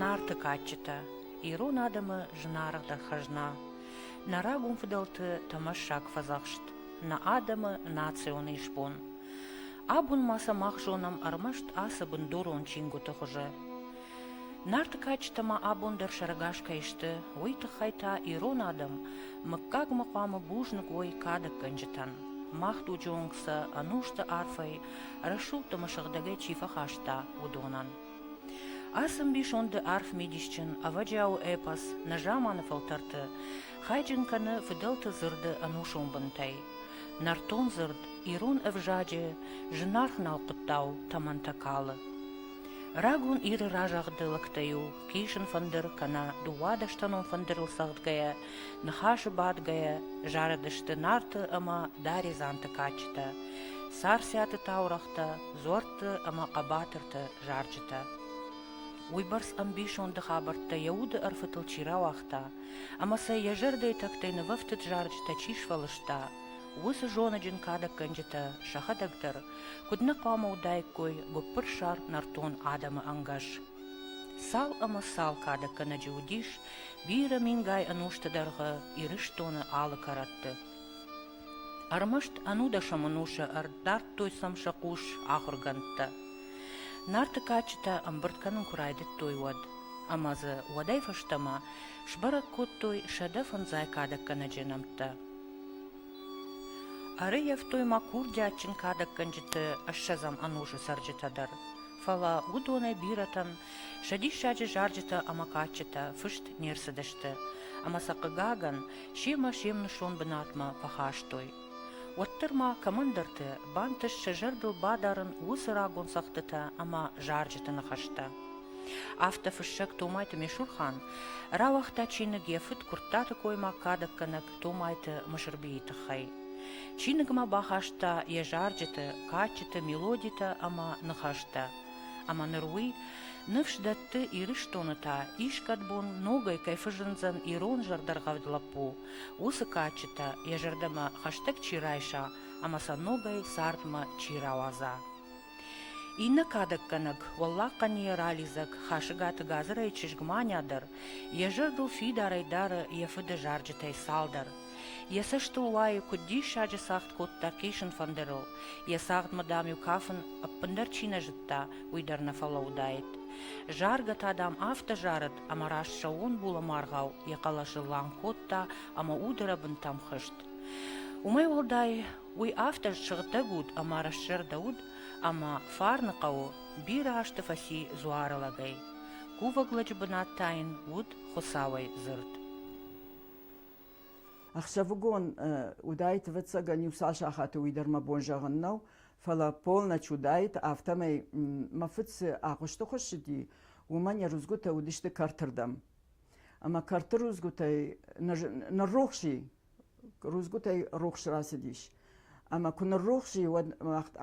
Нарты кадджытӕ ирон адӕмы зынаргъдӕр хӕзна, нӕ рагон фыдӕлты тӕмӕссаг фӕдзӕхст, нӕ адӕмы национ исбон. Абон ма сӕ мах зонӕм ӕрмӕст ацы бындурон чингуыты хуызы. Нарты кадджытӕ ма абон дӕр сӕрӕгас кӕй сты, уый тыххӕй та ирон адӕм мыггагмӕ хъуамӕ бузныг уой кадӕггӕнджытӕн. Мах дуджы онг сӕ ӕнусты арфӕй рӕсугъд ӕмӕ сыгъдӕгӕй чи фӕхаста, уыдонӕн. Ацы мбисонды арф мидисджын, ӕвӕджиауы эпос нӕзаманы фӕлтӕрты хайджын кӕны фыдӕлты дзырды ӕнусон бынтӕй. Нӕртон дзырд, ирон ӕвзаджы зынаргъ налхъуыттау тӕмӕнтӕ калы. Рагон Иры разагъды лӕгтӕ-иу хъисын фӕндыр кӕнӕ дыууадӕстӕнон фӕндырыл цӕгъдгӕйӕ Ныхасы бадгӕйӕ зарыдысты Нарты ӕмӕ Даредзанты кадджытӕ, Царциаты таурӕгътӕ, Дзорты ӕмӕ хъӕбатырты зарджытӕ. Уыйбӕрц ӕмбисонды хабӕрттӕ йӕ уды ӕрфытыл чи рауагъта ӕмӕ сӕ йӕ зӕрдӕйы тӕгтӕй нывӕфтыд зарджытӕ чи сфӕлыста, уыцы зоныджын кадӕггӕнджытӕ сӕхӕдӕг дӕр куыд нӕ хъуамӕ уыдаиккой гуыппырсар нӕртон адӕмы ӕнгӕс. Цал ӕмӕ цал кадӕггӕнӕджы уыдис бирӕ мингай ӕнусты дӕргъы Ирыстоны алы кӕрӕтты. Ӕрмӕст ӕнудӕсӕм ӕнусы ӕрдардтой сӕм сӕ хъус ахуыргӕндтӕ. Нарты кадджытӕ ӕмбырд кӕнын куы райдыдтой, уӕд. Ӕмӕ дзы уӕдӕй фӕстӕмӕ сбӕрӕг кодтой сӕдӕ фындзӕй кадӕггӕнӕджы нӕмттӕ. Ӕрыййӕфтой ма курдиатджын кадӕггӕнджыты ӕссӕдзӕм ӕнусы цӕрджытӕ дӕр, фӕлӕ уыдонӕй бирӕтӕн Сӕ диссаджы зарджытӕ ӕмӕ кадджытӕ фыст не рцыдысты, ӕмӕ сӕ, хъыгагӕн, семӕ-се мнысон бынатмӕ фӕхастой. Уӕддӕр ма кӕмӕндӕрты бантыст сӕ зӕрдыл бадарын уыцы рагон цӕгъдтытӕ ӕмӕ зарджыты ныхӕстӕ. Афтӕ фыссӕг Томайты Месурхан рауагъта чиныг йӕ фыд Куырттаты коймаг кадӕггӕнӕг Томайты Мысырбийы тыххӕй. Чиныгмӕ бахаста йӕ зарджыты, кадджыты мелодитӕ ӕмӕ ныхӕстӕ, ӕмӕ ныр уый ныфс дӕтты, Ирыстоны та искӕд бон ногӕй кӕй фӕзындзӕн ирон зӕрдӕргъӕвд лӕппу, уыцы кадджытӕ йӕ зӕрдӕмӕ хӕстӕг чи райса ӕмӕ сӕ ногӕй цардмӕ чи рауадза. Иннӕ кадӕггӕнӕг, Уӕллаг Хъӕнийӕ ралидзӕг Хасыгаты Газырӕй чызг Маня дӕр йӕ зӕрдыл фидарӕй дары йӕ фыды зарджытӕй цалдӕр. Йӕ цӕстыл уайы, куыд диссаджы цагъд кодта хъисын фӕндырыл, йӕ цагъдмӕ, дам-иу кафын ӕппындӕр чи нӕ зыдта, уый дӕр нӕ фӕлӕуыдаид. Заргӕ та, дам, афтӕ зарыд, ӕмӕ раст сӕууон булӕмаргъау йӕ хъӕлӕсыл лӕм кодта ӕмӕ удырӕбынтӕм хызт. Уымӕй уӕлдай, уый афтӕ сыгъдӕг уд ӕмӕ рӕстзӕрдӕ уыд, ӕмӕ Фарны хъӕуы бирӕ азты фӕци дзуары лӕгӕй. Кувӕг лӕджы бынат та йын уыд Хуыцауӕй дзырд. Ӕхсӕвыгон уыдаит, ӕвӕццӕгӕн, иу цас сахаты уый дӕр мӕ бон зӕгъын нӕу, фӕлӕ полночь уыдаит, афтӕмӕй мӕ фыд цы агъуысты хуыссыди, уымӕн йӕ рудзгуытӕ уыдысты кӕртырдӕм. Ӕмӕ кӕрты рудзгуытӕй ныррухс и, рудзгуытӕй рухс рацыдис. Ӕмӕ куы ныррухс и, уӕд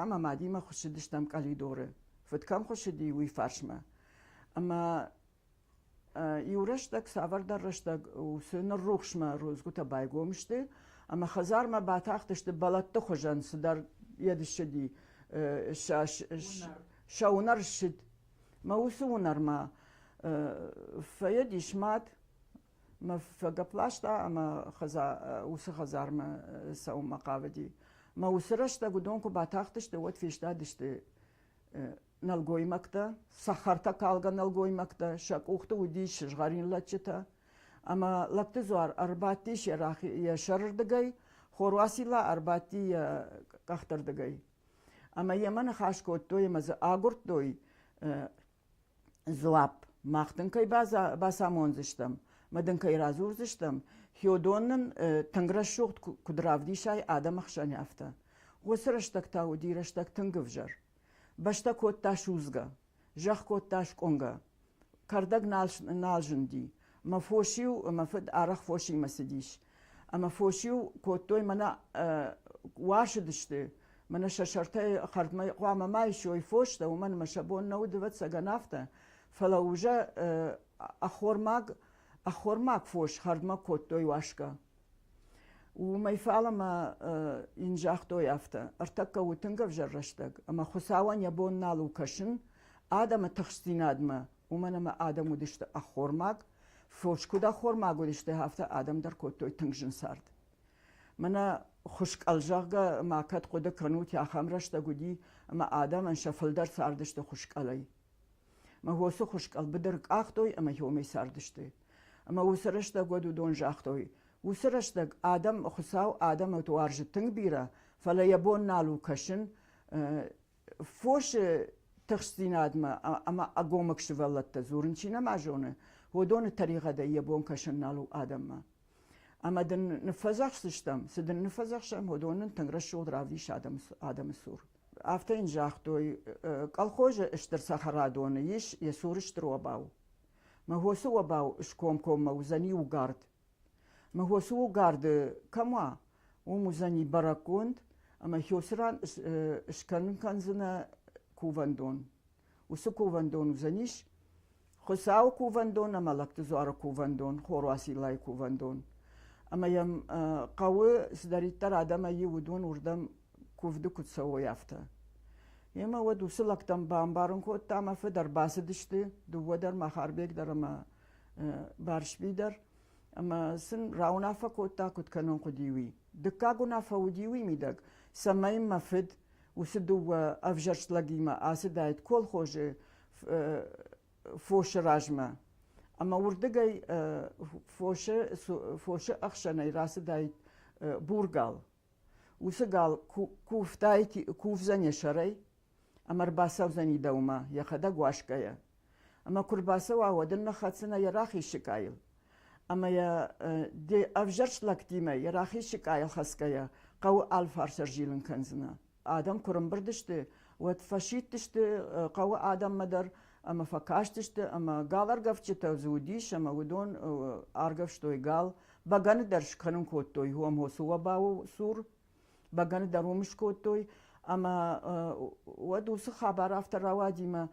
ӕмӕ мадимӕ хуыссыдыстӕм къӕлидоры. Фыд кӕм хуыссыди, уый фарсмӕ. Ӕмӕ Иу рӕстӕг, цавӕрдӕр рӕстӕг уыцы ныррухсмӕ рудзгуытӕ байгом сты ӕмӕ хӕдзармӕ батахтысты бӕлӕтты хуызӕн цыдӕр йӕ ссыди сӕ уынӕр ссыд. Мӕ уыцы уынӕрмӕ фӕйыдис мад, мӕ фӕгӕпласта ӕмӕ уыцы хӕдзармӕ цӕуынмӕ хъавыди. Мӕ уыцы рӕстӕг уыдон куы батахтысты, уӕд фестадысты нӕлгоймӕгтӕ, цӕхӕртӕкалгӕ нӕлгоймӕгтӕ, сӕ къухты уыдис сызгъӕрин лӕдджытӕ, ӕмӕ лӕгты дзуар ӕрбадтис йӕ, йӕ сӕрырдыгӕй, Хоруасила ӕрбадти йӕ къӕхтырдыгӕй. Ӕмӕ йемӕ ныхас кодтой ӕмӕ дзы агуырдтой дзуапп. Мах дын кӕй бацамондзыстӕм, ӕмӕ дын кӕй радзурдзыстӕм, Хёдон нын тынг рӕсугъд куыд равдисай адӕмы хсӕн, афтӕ. Уыцы рӕстӕг та уыди рӕстӕг тынг ӕвзӕр. Бӕстӕ кодта судзгӕ, зӕхх кодта скъуынгӕ. Кӕрдӕг нал, нал зынди. Мӕ фос-иу, мӕ фыд арӕх фосимӕ цыдис. Ӕмӕ фос-иу кодтой мӕнӕ уасыдысты, мӕнӕ сӕ сӕртӕй хӕрдмӕ хъуамӕ ма исой фостӕ, уымӕн ӕмӕ сӕ бон нӕ уыд, ӕвӕццӕгӕн, афтӕ. Фӕлӕ уже ӕххормаг, ӕххормаг фос хӕрдмӕ кодтой уасгӕ. Уымӕй фалӕмӕ йын загътой афтӕ: ӕртӕккӕ у тынг ӕвзӕр рӕстӕг, ӕмӕ Хуыцауӕн йӕ бон нал у кӕсын адӕмы тыхстдзинадмӕ, уымӕн ӕмӕ адӕм уыдысты ӕххормаг, фос куыд ӕххормаг уыдысты, афтӕ адӕм дӕр кодтой тынг зын цард. Мӕнӕ хуыскъӕл, зӕгъгӕ, ма кӕд хъуыды кӕнут, ахӕм рӕстӕг уыди, ӕмӕ адӕмӕн сӕ фылдӕр цардысты хуыскъӕлӕй. Мыгъосы хуыз къӕлбы дӕр къахтой ӕмӕ хьомӕй цардысты. Ӕмӕ уыцы рӕстӕг уӕд уыдон загътой, уыцы рӕстӕг адӕм, Хуыцау адӕмы уарзы тынг бирӕ, фӕлӕ йӕ бон нал у кӕсын фосы тыхстдзинадмӕ ӕмӕ ӕгомыг сывӕллӕттӕ дзурын чи нӕма зоны, уыдоны тӕригъӕдӕй йӕ бон кӕсын нал у адӕммӕ. Ӕмӕ дын ныффӕдзӕхсдзыстӕм, цы дын ныффӕдзӕхсӕм, уыдон нын тынг рӕсугъд равдис адӕмы цур. афтӕ йын загътой колхозы стыр цӕхӕрадоны ис йӕ цуры стыр обау мыгъосы обау скомкоммӕ уыдзӕни угард мыгъосы угарды кӕм уа уым уыдзӕни бӕрӕггонд ӕмӕ хёсыран скӕнын кӕндзынӕ кувӕндон уыцы кувӕндон уыдзӕнис Хуыцауы кувӕндон ӕмӕ Лӕгты дзуары кувӕндон, Хорвасиллайы кувӕндон. Ӕмӕ йӕм хъӕуы цыдӕриддӕр адӕмӕй иу уыдон уырдӕм куывды куыд цӕуой, афтӕ. Йемӕ уӕд уыцы лӕгтӕм бамбарын кодта, мӕ фыд ӕрбацыдысты, дыууӕ дӕр, Махарбег дӕр ӕмӕ Барсби дӕр, ӕмӕ сын рауынаффӕ кодта, куыд кӕнон хъуыди, уый. Дыккаг уынаффӕ уыди уый мидӕг, цӕмӕй мӕ фыд уыцы дыууӕ ӕвзӕрст лӕгимӕ ацыдаид колхозы фосы размӕ. Ӕмӕ уырдыгӕй фосы, фосы ӕхсӕнӕй рацыдаид бургал. уыцы гал куывтай кувдзӕни сӕрӕй ӕмӕ рбацӕудзӕни дӕумӕ йӕхӕдӕг уасгӕйӕ. Ӕмӕ куы рбацӕуа, уӕд ын ныххӕцдзынӕ йӕ рахиссыкъайыл. Ӕмӕ йӕ де ӕвзӕрст лӕгтимӕ йӕ рахиссыкъайыл хӕцгӕйӕ хъӕуы алфарс ӕрзилын кӕндзынӕ. адӕм куы рымбырд сты, уӕд фӕсидтысты хъӕуы адӕммӕ дӕр ӕмӕ фӕкастысты, ӕмӕ галаргӕвдджытӕ дзы уыдис, ӕмӕ уыдон аргӕвстой гал, бӕгӕны дӕр скӕнын кодтой уомho суобауы цур, бӕгӕны дӕр уым скодтой, ӕмӕ уӕд уыцы хабар афтӕ рауади, ӕмӕ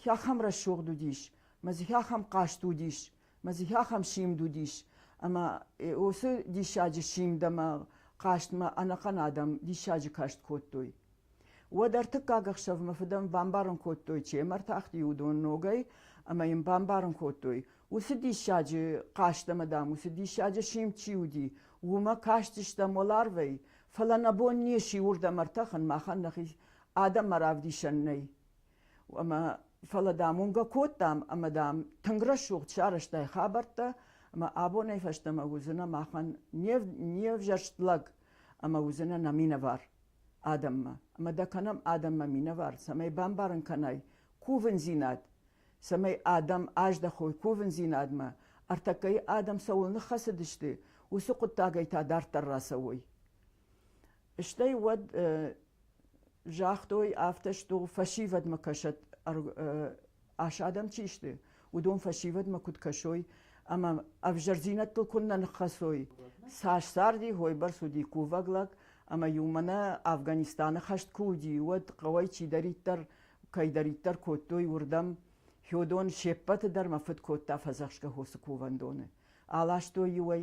хӕхӕм рӕсугъд уыдис, мӕ дзы хӕхӕм хъаст уыдис, мӕ дзы ахӕм симд уыдис, ӕмӕ уыцы диссаджы симд ӕмӕ хъазтмӕ ӕнӕхъӕн адӕм диссаджы каст кодтой. Уӕд ӕртыккаг ӕхсӕвмӕ фыдӕн бамбарын кодтой, чи ӕм ӕртахти, уыдон ногӕй, ӕмӕ йын бамбарын кодтой, уыцы диссаджы хъазт ӕмӕ, дам, уыцы диссаджы симд чи уыди, уымӕ кастыстӕм уӕларвӕй, фӕлӕ нӕ бон не сси уырдӕм ӕртӕхын, махӕн нӕхи адӕммӕ равдисӕн нӕй. Ӕмӕ фӕлӕ, дам, уынгӕ кодтам ӕмӕ, дам, тынг рӕсугъд сарӕзтай хабӕрттӕ, ӕмӕ абонӕй фӕстӕмӕ уыдзынӕ махӕн не ӕвзӕрст лӕг ӕмӕ уыдзынӕ нӕ минӕвар адӕммӕ. Ӕмӕ дӕ кӕнӕм адӕммӕ минӕвар, цӕмӕй бамбарын кӕнай кувындзинад, цӕмӕй адӕм аздӕхой кувындзинадмӕ, ӕртӕккӕйы адӕм цӕуыл ныххӕцыдысты, уыцы хъуыддагӕй та дарддӕр рацӕуой. Стӕй уӕд загътой, афтӕ сту, фӕсивӕдмӕ кӕсӕд, ас адӕм чи сты, уыдон фӕсивӕдмӕ куыд кӕсой ӕмӕ ӕвзӕрдзинӕдтыл куыннӕ ныххӕцой. Цас царди, хойбӕрц уыди кувӕг лӕг, ӕмӕ-иу мӕнӕ Афганистаны хӕст куы уыди, уӕд хъӕуӕй чидӕриддӕр, кӕйдӕриддӕр кодтой, уырдӕм Федон се ппӕты дӕр мӕ фыд кодта фӕдзӕхсгӕ хосы кувӕндоны. Аластой-иу ӕй,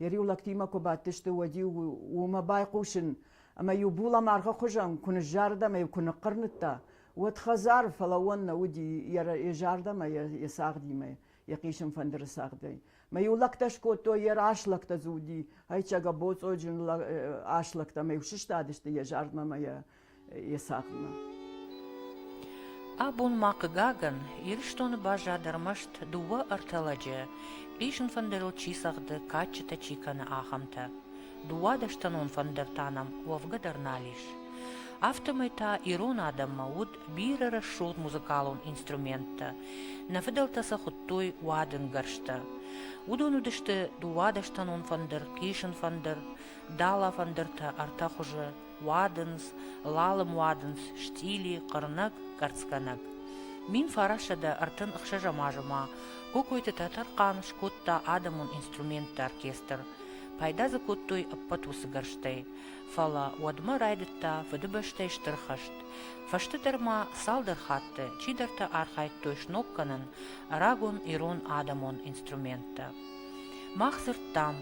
йӕ риу лӕгтимӕ куы бадтысты, уӕд-иу уымӕ байхъусын, ӕмӕ-иу булӕмӕргъы хуызӕн куы ныззарыд ӕмӕ-иу куы ныхъхъырныдта, уӕд хӕдзар фӕлӕууӕн нӕ уыди йӕ зӕрдӕмӕ, йӕ цагъдимӕ, йӕ хъисын фӕндыры цагъдӕй. Мӕ-иу лӕгтӕ скодтой, йӕ рас лӕгтӕ дзы уыди, Хӕйчӕг, боцъоджын ас лӕгтӕ мӕ-иу сыстадысты йӕ зардмӕ ӕмӕ йӕ есадмӕ. Абон ма хъыгагӕн, Ирыстоны баззад ӕрмӕст дыууӕ-ӕртӕ лӕджы, исын фӕндырыл чи цӕгъды, кадджытӕ чи кӕны, ахӕмтӕ. Дыууадӕстӕнон фӕндыр та нӕм уӕвгӕ дӕр нал ис. Афтӕмӕй та ирон адӕммӕ уыд бирӕ рӕсугъд музыкалон инструменттӕ. Нӕ фыдӕлтӕ сӕ хуыдтой уадынгӕрзтӕ. Уыдон уыдысты дыууадӕстӕнон фӕндыр, хъисын фӕндыр, дала фӕндыртӕ ӕртӕ хуызы, Уадындз, лалым уадындз, стъили, хъырнӕг, гӕрцгӕнӕг. Мин фарӕссӕдӕ ӕртын ӕхсӕзӕм азы ма Кокойты Тӕтӕрхъан скодта адӕмон инструментты оркестр. Пайда дзы кодтой ӕппӕт уыцы гӕрзтӕй. Фӕлӕ уӕдмӕ райдыдта Фыдыбӕстӕйы Стыр хӕст. Фӕстӕдӕр ма цалдӕр хатты чидӕртӕ архайдтой сног кӕнын рагон ирон адӕмон инструменттӕ. Мах дзырдтам,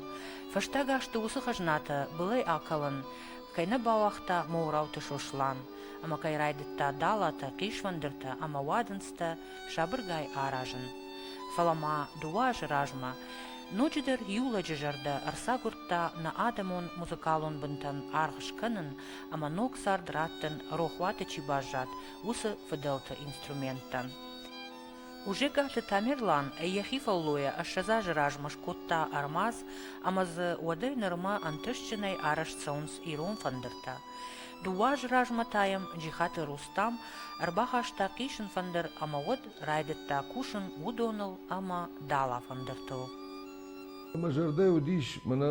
фӕстаг азты уыцы хӕзнатӕ былӕй акалын кӕй нӕ бауагъта Моурауты Сослан ӕмӕ кӕй райдыдта далатӕ, хъисфӕндыртӕ ӕмӕ уадындзтӕ сабыргай аразын. Фӕлӕ ма дыууӕ азы размӕ ноджыдӕр иу лӕджы зӕрдӕ ӕрцагуырдта нӕ адӕмон музыкалон бынтӕн аргъ скӕнын ӕмӕ ног цард раттын рохуаты чи баззад, уыцы фыдӕлты инструменттӕн. Хъузӕгкаты Тамерлан йӕхи фӕллойӕ ӕссӕдз азы размӕ скодта ӕрмадз ӕмӕ дзы уӕдӕй нырмӕ ӕнтыстджынӕй арӕзт цӕуынц ирон фӕндыртӕ. Дыууӕ азы размӕ та йӕм Джихаты Рустам ӕрбахаста хъисын фӕндыр ӕмӕ уӕд райдыдта кусын уыдоныл ӕмӕ дала фӕндыртыл. Мӕ зӕрдӕ уыдис, мӕнӕ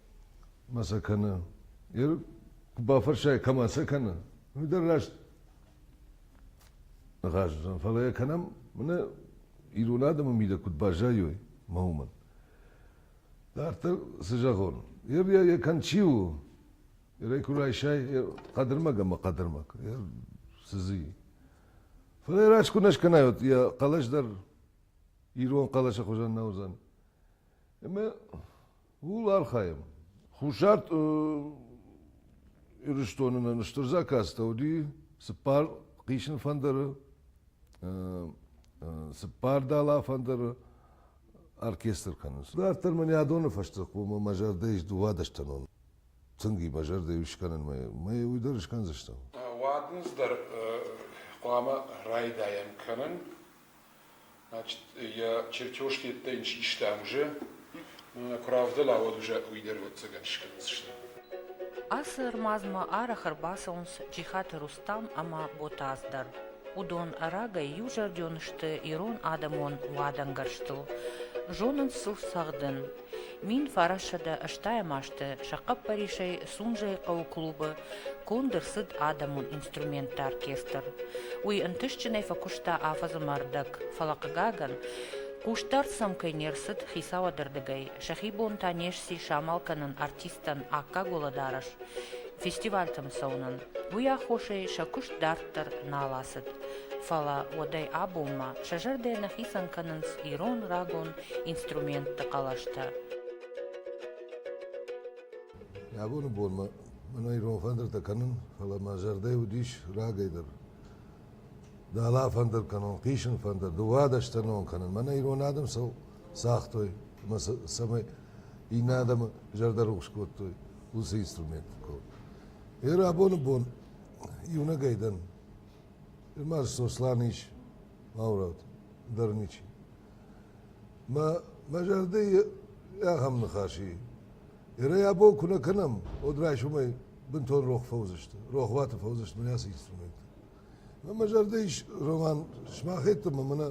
ма сӕ кӕны. Куы бафӕрсай, кӕмӕ сӕ кӕны, уый дӕр раст ныхас уыдзӕн. Фӕлӕ йӕ кӕнӕм, мӕнӕ ирон адӕмы мидӕг куыд баззайой мӕ уымӕн. Дарддӕр цы зӕгъон? Ир йӕ кӕн чи у? Ирӕй куы райсай хъӕдырмӕг ӕмӕ хъӕдырмӕг, цы дзы и? Фӕлӕ раст куы нӕ скӕнай, йӕ хъӕлӕс дӕр ирон хъӕлӕсы хуызӕн нӕ уыдзӕн. Ӕмӕ Ууыл архайӕм. Хуссар Ирыстоны нын стыр заказтӕ уыди цыппар хъисин фӕндыры, цыппар дала фӕндыры оркестр кӕнынц. Дарддӕр мын йӕ адоны фӕстӕ хъуамӕ мӕ зӕрдӕ ис уӕдӕ стӕнон. Тынг и мӕ зӕрдӕ ис скӕнынмӕ. Мӕ уый дӕр скӕндзыстӕм. Уӕд ныз дӕр хъуамӕ райдайӕм кӕнын. йӕ чертеж йеддӕ йын систа ӕмзӕ, куы равдӕлауӕд уызӕ, уый дӕр ӕвӕццӕгӕн скӕндзысты. Ацы ӕрмадзмӕ арӕх ӕрбацӕуынц Джихаты Рустам ӕмӕ Ботаз дӕр. Уыдон рагӕй иузӕрдион сты ирон адӕмон уадӕнгӕрзтыл, зонынц сыл цӕгъдын, Мин фарассӕдӕ ӕстайӕм азты сӕ хъӕппӕрисӕй Сунжӕйы хъӕуы клубы конд ӕрцыд адӕмон инструментты оркестр. Уый ӕнтыстджынӕй фӕкуыста афӕдзы мӕрдӕг, фӕлӕ, хъыгагӕн, хъусдард сӕм кӕй не рцыд хицауады рдыгӕй, сӕхи бон та не сси самал кӕнын артисттӕн аккаг уӕлӕдарӕс фестивальтӕм цӕуынӕн. Уый аххосӕй сӕ куыст дарддӕр нал ацыд, фӕлӕ уӕдӕй абонмӕ сӕ зӕрдӕ нӕ хицӕн кӕнынц ирон рагон инструментты хъӕлӕстӕ. Абоны бонмӕ мӕн ирон фӕндыртӕ кӕнын, фӕлӕ мӕ зӕрдӕ уыдис рагӕй дӕр. Дала фӕндыр кӕнон, хъисын фӕндыр, дыууадӕстӕ нон кӕнын. Мӕнӕ ирон адӕм сыл цагътой, ӕмӕ цӕмӕй иннӕ адӕмы зӕрдӕ рухс кодтой, уыцы инструмент. Ир абоны бон иунӕгӕй дӕн. Ир ма Сослан ис, Маураут, дӕр ничи. Мӕ зӕрдӕйы ахӕм ныхас и, ерӕй абон куы нӕ кӕнӕм, уӕд райсомӕй бынтон рох фӕуыдзысты, рохуаты фӕуыдзысты мын ацы инструменттӕ. Ӕмӕ мӕ зӕрдӕ ис, Роман, сымахӕддӕмӕ мӕнӕ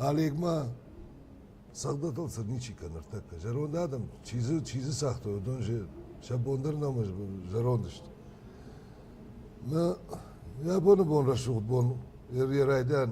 Олегмӕ цӕгъдӕтыл цы ничи кӕны ныртӕккӕ. Зӕронд адӕм чи дзы, чи дзы цагътой, уыдон же сӕ бон дӕр нӕма зӕронд сты. Мӕ йӕ абоны бон рӕсугъд бон, йӕ райдиан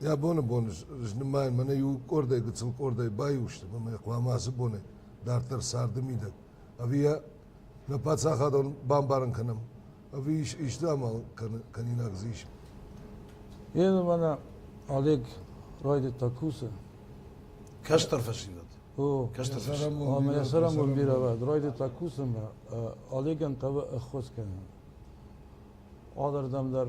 Йӕ боны бон знымайын мӕнӕ иу къордӕй гыццыл къордӕй баиу сты ӕмӕ хъуамӕ ацы боны дарддӕр царды мидӕг ӕви йӕ нӕ паддзахадон бамбарын кӕнӕм ӕви исты амал кӕнинаг дзы ис. Йемӕ мӕнӕ Олег райдыдта кусын. Кӕстӕр фӕсивӕд. О, ӕмӕ йӕ сӕрамон бирӕвӕрд райдыдта кусынмӕ. Олегӕн хъавы ӕххуыс кӕнын. Алырдӕм дӕр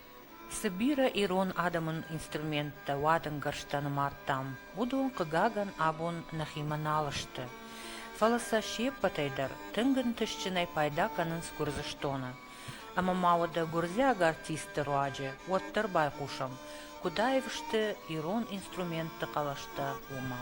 Цы бирӕ ирон адӕмон инструменттӕ уадынгӕрзтӕ нымадтам, уыдон, хъыгагӕн, абон нӕхимӕ нал сты, фӕлӕ сӕ се ппӕтӕй дӕр тынг ӕнтыстджынӕй пайда кӕнынц Гуырдзыстоны. Ӕмӕ ма уӕдӕ гуырдзиаг артистты руаджы уӕддӕр байхъусӕм, куыд аив сты ирон инструментты хъӕлӕстӕ, уымӕ.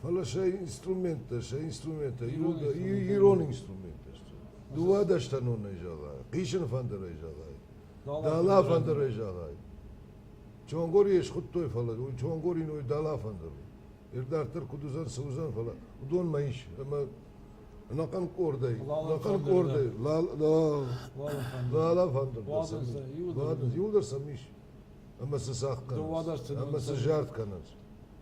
фӕлӕ сӕ инструменттӕ, сӕ инструменттӕ, ирон инструменттӕ сты. Дыууадӕстӕнонӕй зӕгъай, хъисыны фӕндырӕй зӕгъай, дӕла фӕндырӕй зӕгъай. Чонгори схуыдтой, фӕлӕ уый Чонгори ной дӕла фӕндыр у. Ирдарддӕр куыд уыдзӕн, цы уыдзӕн, фӕлӕ уыдонмӕ ис ӕмӕ ӕнӕхъӕн къордӕй, ӕнӕхъӕн къордӕй лала фӕндыр бадынц, иуыл дӕр сӕм ис. Ӕмӕ цы цӕхх кӕнынц, ӕмӕ цы зард кӕнынц.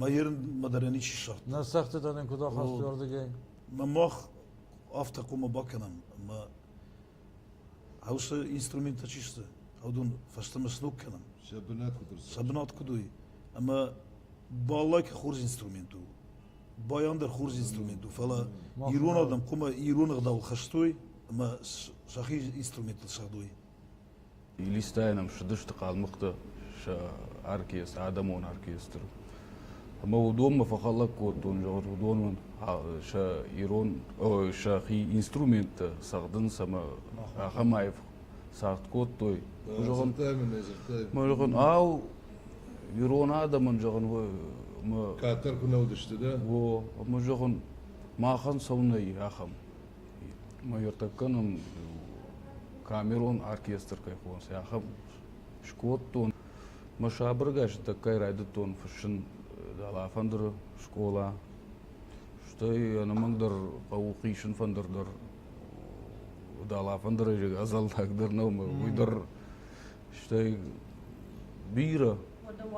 Мӕ ерын мадарӕн ничи ссагъта. Нӕ цӕгъдтытӕ нын куыд ахастой ардыгӕй? Мӕ мах афтӕ хъуамӕ бакӕнӕм, ӕмӕ хъӕусы инструменттӕ чи сты, аудон фӕстӕмӕ сног кӕнӕм. Сӕ бынат куыд ӕрцыд? Сӕ бынат куыд у, ӕмӕ баллайкӕ хорз инструмент у, байан дӕр хорз инструмент у, фӕлӕ ирон адӕм хъуамӕ ирон ӕгъдауыл хӕстой ӕмӕ сӕхи инструменттыл ссардой. Илистӕйӕн ӕм ссыдысты хъалмыхътӕ сӕ оркестр, адӕмон оркестр. Ӕмӕ уыдонмӕ фӕхӕлӕг кодтон, зӕгъут, уыдон сӕ ирон, сӕхи инструменттӕ цӕгъдынц ӕмӕ ахӕм аив цард кодтой. Зӕгъын, мӕ зӕгъын, ау, ирон адӕмӕн, зӕгъын, мӕ... Кӕддӕр куы нӕ уыдысты, дӕ? О, ӕмӕ, зӕгъын, махӕн цӕуынӕ и ахӕм? мӕйӕртӕггӕнӕн камерон оркестр кӕй хонынц, ахӕм скодтон. Мӕ сабыргӕс тӕккӕ райдыдтон фыссын Дӕлӕфӕндыры скъола. Стӕй ӕнӕмӕнгдӕр хъӕуы хисын фӕндыр дӕр. Дӕлӕфӕндыры ӕдзӕллаг дӕр нӕу, уый дӕр. Стӕй бирӕ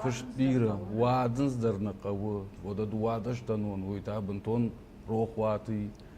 фыст бирӕ уадындз дӕр нӕ хъӕуы. Уӕдӕ дыууадӕстӕнон уый та бынтон рохуаты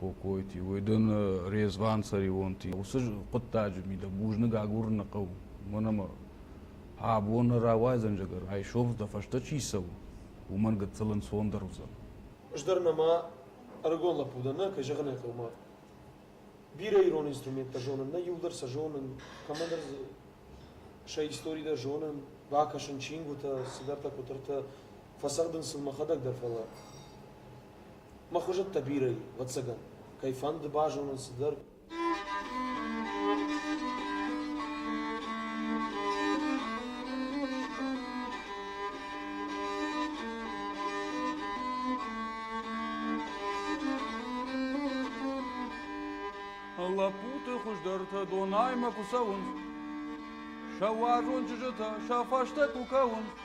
Кокойти, уой дон Резван-Цӕрионти. Уыцы хъуыддаджы мидӕг бузныг агурыны хъӕуы. Уымӕн ӕмӕ абон рауайдзӕн зӕгӕр, айсов дӕ фӕстӕ чи цӕуы, уымӕн гыццыл ӕнцондӕр уыдзӕн. Ӕз дӕр нӕма ӕрыгон лӕппу дӕн, нӕ, кӕй зӕгъын ӕй хъӕуы, бирӕ ирон инструменттӕ зонын, нӕ иу дӕр сӕ зонын, кӕмӕндӕр дзы сӕ истори дӕр зонын, бакӕсын чингуытӕ, цыдӕртӕ, къуытыртӕ, фӕцӕгъдын сын мӕхӕдӕг дӕр, фӕлӕ. Мӕ хуызӕттӕ бирӕ и, ӕвӕццӕгӕн, кӕй фӕнды базонын цыдӕр. Лӕппуты хуыздӕртӕ Дунаймӕ куы цӕуынц, сӕ уарзон чызджытӕ сӕ фӕстӕ куы кӕуынц,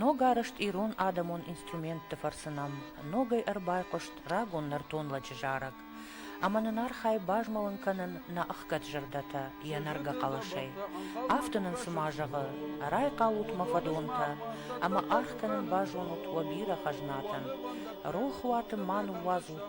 Ногарызт ирон адӕмон инструментты фӕрцы нӕм ногӕй ӕрбайхъуыст рагон нӕртон лӕджы зарӕг, ӕмӕ нын архай базмӕлын кӕнын нӕ ӕхгӕд зӕрдӕтӕ йӕ нӕргӕ хъӕлӕсӕй. Афтӕ нын цыма зӕгъы, райхъалут мӕ фӕдонтӕ, ӕмӕ аргъ кӕнын базонут уӕ бирӕ хӕзнатӕн. Рох уаты ма ныууадзут